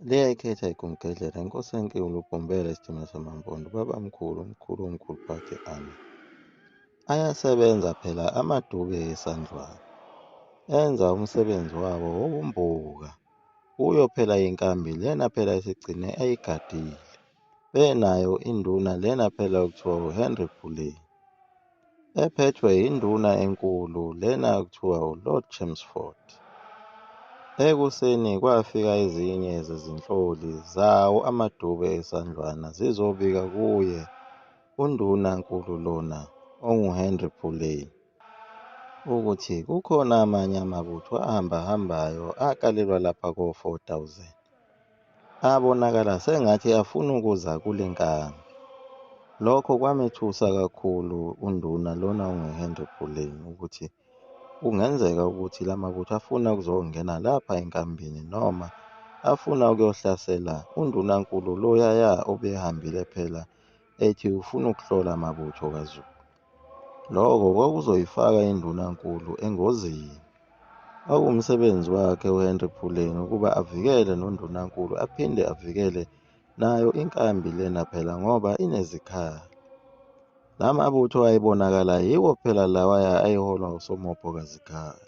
Leya ikhetha igumgedlela inkosi enkulu ubhombela isidima samampondo baba mkhulu umkhulu womkhulu phakhe ami ayasebenza phela amaduke esandlwana enza umsebenzi wabo wobumbuka kuyo phela inkambi lena phela isigcine ayigadile benayo induna lena phela okuthiwa uhenry puleni ephethwe yinduna enkulu lena kuthiwa uLord Chelmsford. Ekuseni kwafika ezinye zezinhloli zawo amadube esandlwana zizobika kuye unduna nkulu lona onguHenry Puley ukuthi kukhona amanye amabutho ahambahambayo akalelwa lapha ko-4000. abonakala sengathi afuna ukuza kule nkambi lokho kwamethusa kakhulu unduna lona unguhenry buleni ukuthi kungenzeka ukuthi la mabutho afuna ukuzongena lapha enkambini noma afuna ukuyohlasela undunankulu loyaya obehambile phela ethi ufuna ukuhlola amabutho kazulu Lokho kwakuzoyifaka indunankulu engozini. Kwakuwumsebenzi wakhe uHenry Puleng ukuba avikele nondunankulu aphinde avikele nayo inkambi lena phela ngoba inezikhali. La mabutho ayebonakala yiwo phela lawaya ayeholwa uSomopho kaZikhala.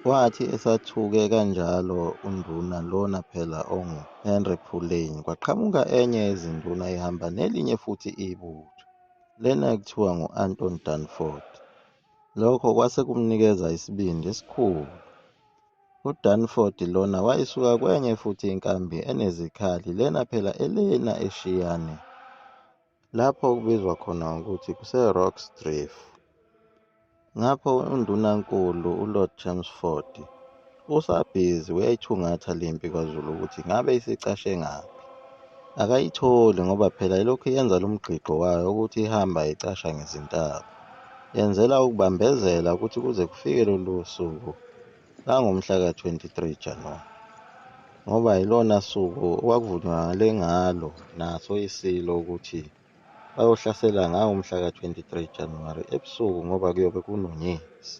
Wathi esathuke kanjalo unduna lona phela ongu Henry Phuleni kwaqhamuka enye yezinduna ihamba nelinye futhi ibutho lena ekuthiwa ngu Anton Danford lokho kwase kumnikeza isibindi esikhulu uDanford lona wayisuka kwenye futhi inkambi enezikhali lena phela elena eshiyane lapho okubizwa khona ngokuthi kuseRoxdrift. Ngapho uNdunankulu uLord Chelmsford usabhizi uyayithungatha le mpi kwaZulu ukuthi ngabe isicashe ngaphi. Akayitholi ngoba phela ilokhu yenza lo mgqigqo wayo ukuthi ihamba icasha ngezintaba. Yenzela ukubambezela ukuthi kuze kufike lolu suku langomhla ka-23 Januwari ngoba yilona suku okwakuvunywakale ngalo naso isilo ukuthi bayohlasela ngawo umhla ka-23 Januwari ebusuku ngoba kuyobe kunonyezi.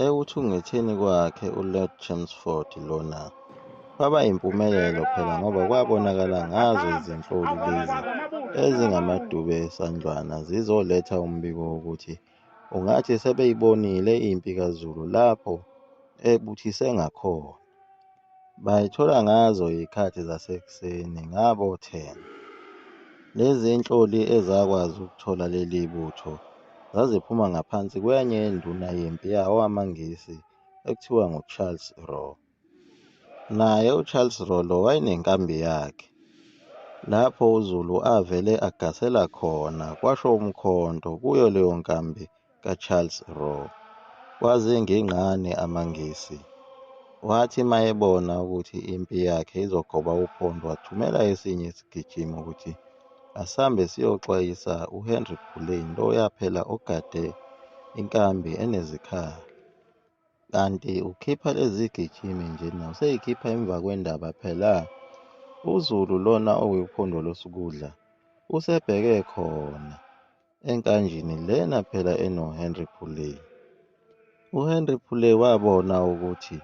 Ekuthungetheni kwakhe uLord Chelmsford lona kwaba yimpumelelo phela ngoba kwabonakala ngazo izinhloli lezi ezingamadube esandlwana zizoletha umbiko wokuthi Ungathi sebeyibonile impi kaZulu lapho ebuthise ngakhona. Bayithola ngazo izikhathi zasekuseni ngabo 10. Lezi nhloli ezakwazi ukuthola leli butho zaziphuma ngaphansi kwenye induna yempi yawo amaNgisi ekuthiwa nguCharles Rowe. Naye uCharles Rolo wayenenkambi yakhe lapho uZulu avele agasela khona kwasho umkhonto kuyo leyo nkambi kaCharles Rolo. Kwazingingqane amaNgisi. Wathi mayebona ukuthi impi yakhe izogoba uphondo wathumela esinye isigijimi ukuthi asambe siyoxwayisa uHenry Puleni loyaphela ogade inkambi enezikhali. Kanti ukhipha lezi gijimi nje na useyikhipha emva kwendaba phela uzulu lona okuyiphondo losukudla usebheke khona enkanjini lena phela enohenry pulley uhenry pulley wabona ukuthi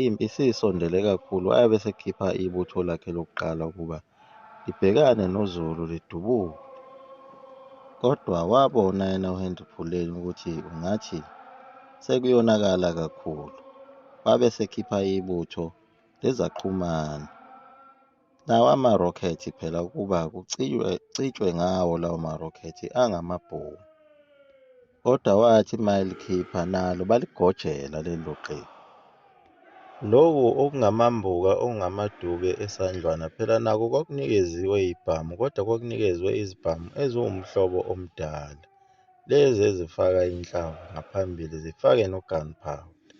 impi siyisondele kakhulu abe sekhipha ibutho lakhe lokuqala ukuba libhekane noZulu lidubule kodwa wabona yena uHenry Phuleni ukuthi ungathi sekuyonakala kakhulu wabe sekhipha ibutho lezaqhumana lawa amarokhethi phela ukuba kucitshwe ngawo lawo marokhethi angamabhomu Kodwa wathi mayelikhipha nalo baligojela lelo qembu. Loku okungamambuka okungamaduke esandlwana phela nako kwakunikeziwe ibhamu kodwa kwakunikezwe izibhamu eziwumhlobo omdala. Lezi ezifaka inhlamvu ngaphambili zifake nogunpowder.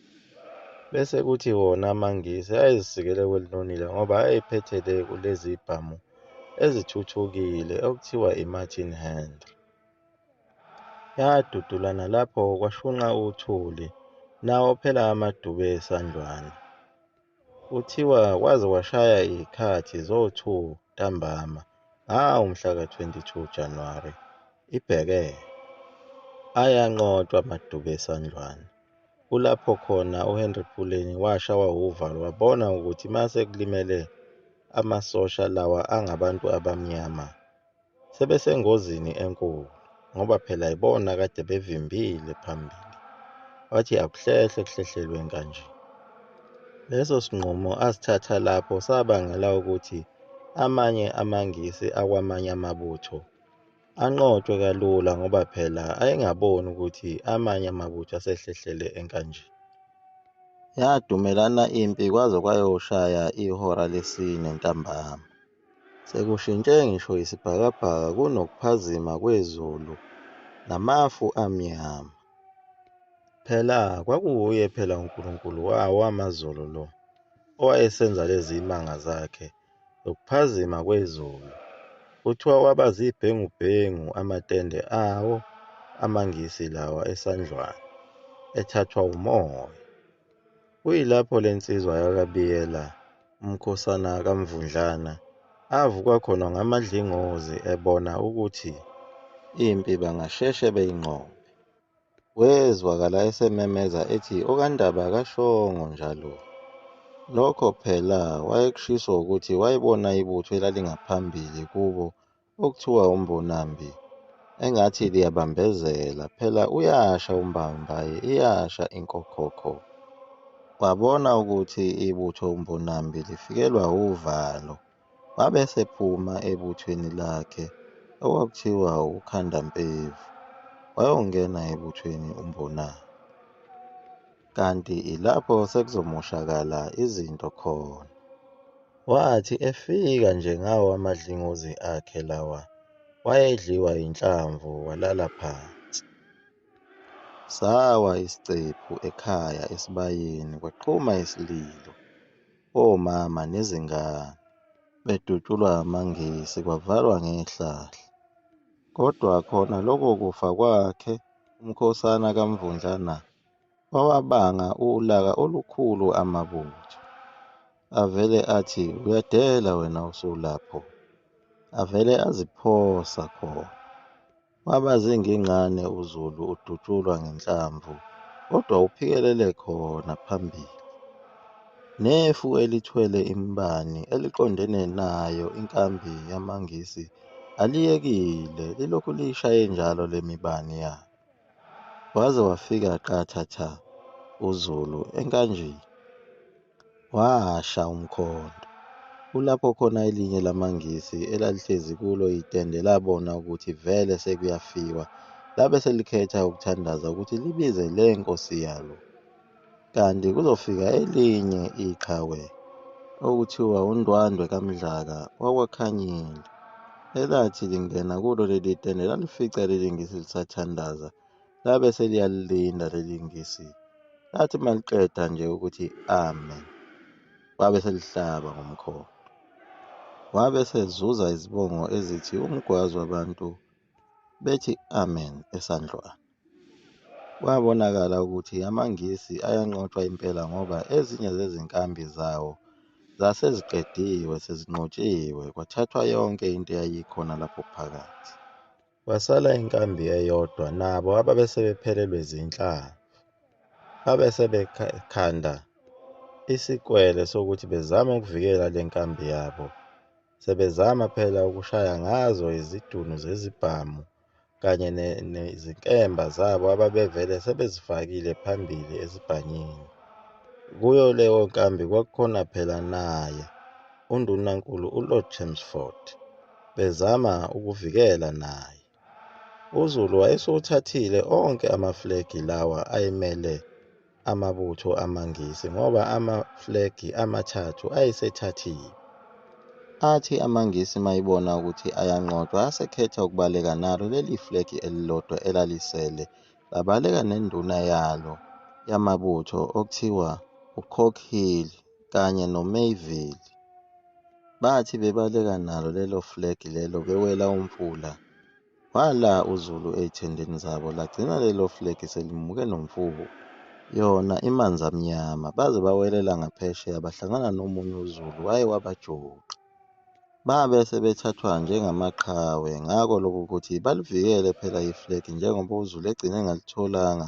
Bese kuthi wona amaNgisi ayezisikele kwelinonile ngoba ayephethe le kulezi ibhamu ezithuthukile okuthiwa i-Martin Henry. yadudula nalapho kwashunqa uthuli nawo phela amadube esandlwana kuthiwa kwaze kwashaya iy'khathi zo-2 ntambama ngawo mhla ka-22 Januwari ibheke ayanqotshwa amadube esandlwana kulapho khona uHenry Puleni washawa wuvalo wabona ukuthi mase kulimele amasosha lawa angabantu abamnyama sebesengozini enkulu ngoba phela yibona kade bevimbile phambili wathi akuhlehle kuhlehlelweni kanje leso sinqumo asithatha lapho sabangela ukuthi amanye amangisi akwamanye amabutho anqotshwe kalula ngoba phela ayengaboni ukuthi amanye amabutho asehlehlele enkanje yadumelana impi kwaze kwayoshaya ihora lesine ntambama Sekushintshe ngisho isibhakabhaka kunokuphazima kwezulu namafu amnyama. Phela kwakuwuye phela uNkulunkulu wawo amazulu lo owayesenza lezi imanga zakhe zokuphazima kwezulu. Kuthiwa waba zibhengubhengu amatende awo amaNgisi lawa eSandlwana ethathwa umoya. Kuyilapho le nsizwa yakaBiyela, umkhosana kaMvundlana, avuka khona ngamadlingozi ebona ukuthi impi bangasheshe beyinqobe. Wezwakala esememeza ethi okaNdaba kashongo njalo. Nokho phela wayekushiso ukuthi wayebona ibutho elalingaphambili kubo Okuthiwa umbonambi engathi liyabambezela phela uyasha umbambaye iyasha inkokhokho wabona ukuthi ibutho umbonambi lifikelwa uvalo wabe sephuma ebuthweni lakhe okwakuthiwa ukhandampevu wayongena ebuthweni umbonambi kanti ilapho sekuzomoshakala izinto khona. Wathi efika nje ngawo amadlingozi akhe lawa wayedliwa yinhlamvu walala phansi. Sawa isicephu ekhaya esibayeni kwaqhuma isililo. Omama nezingane bedutshulwa amangisi kwavalwa ngehlahla. Kodwa khona lokho kufa kwakhe uMkhosana kaMvundlana wawabanga ulaka olukhulu amabutho avele athi uyadela wena usulapho avele aziphosa khona waba zingingqane uzulu udutshulwa ngenhlamvu kodwa uphikelele khona phambili nefu elithwele imbani eliqondene nayo inkambi yamangisi aliyekile lilokhu liyishaye njalo lemibani yalo Waze wafika qatha tha uZulu enkanjini. Washa umkhondo. Kulapho khona elinye lamaNgisi elalihlezi kulo itende labona ukuthi vele sekuyafiwa, labe selikhetha ukuthandaza ukuthi libize le nkosi yalo. Kanti kuzofika elinye iqhawe okuthiwa uNdwandwe kaMdlaka wakwaKhanyile elathi lingena kulo leli tende lalifica leli ngisi lisathandaza labe seliyalilinda leli ngisi lathi maliqeda nje ukuthi amen wabe selihlaba ngomkhondo wabe sezuza izibongo ezithi umgwazi wabantu bethi amen esandlwana. Kwabonakala ukuthi amaNgisi ayanqotshwa impela ngoba ezinye zezinkambi zawo zaseziqediwe sezinqotshiwe kwathathwa yonke into eyayikhona lapho phakathi. Kwasala inkambi eyodwa nabo ababesebephelelwe zinhlanga abesebekhanda isikwele sokuthi bezame ukuvikela le nkambi yabo Sebezama phela ukushaya ngazo izidunu zezibhamu kanye nezinkemba zabo ababevele sebezifakile phambili esibhanyini. Kuyo leyo nkambi kwakukhona phela naye uNdunankulu uLord Chelmsford bezama ukuvikela naye. uzulu wayesewuthathile onke amaflegi lawa ayemele amabutho amangisi ngoba amaflegi amathathu ayesethathiwe athi amangisi mayibona ukuthi ayanqotshwa asekhetha ukubaleka nalo leli flegi elilodwa elalisele labaleka nenduna yalo yamabutho okuthiwa ucock hill kanye noMayville bathi bebaleka nalo lelo flag lelo bewela umfula wala uZulu ey'thendeni zabo lagcina lelo flag selimuke nomfuku yona imanzi amnyama baze bawelela ngaphesheya bahlangana nomunye uZulu waye wabajuqa babe sebethathwa njengamaqhawe ngako lokho ukuthi balivikele phela iflag njengoba uZulu egcine engalitholanga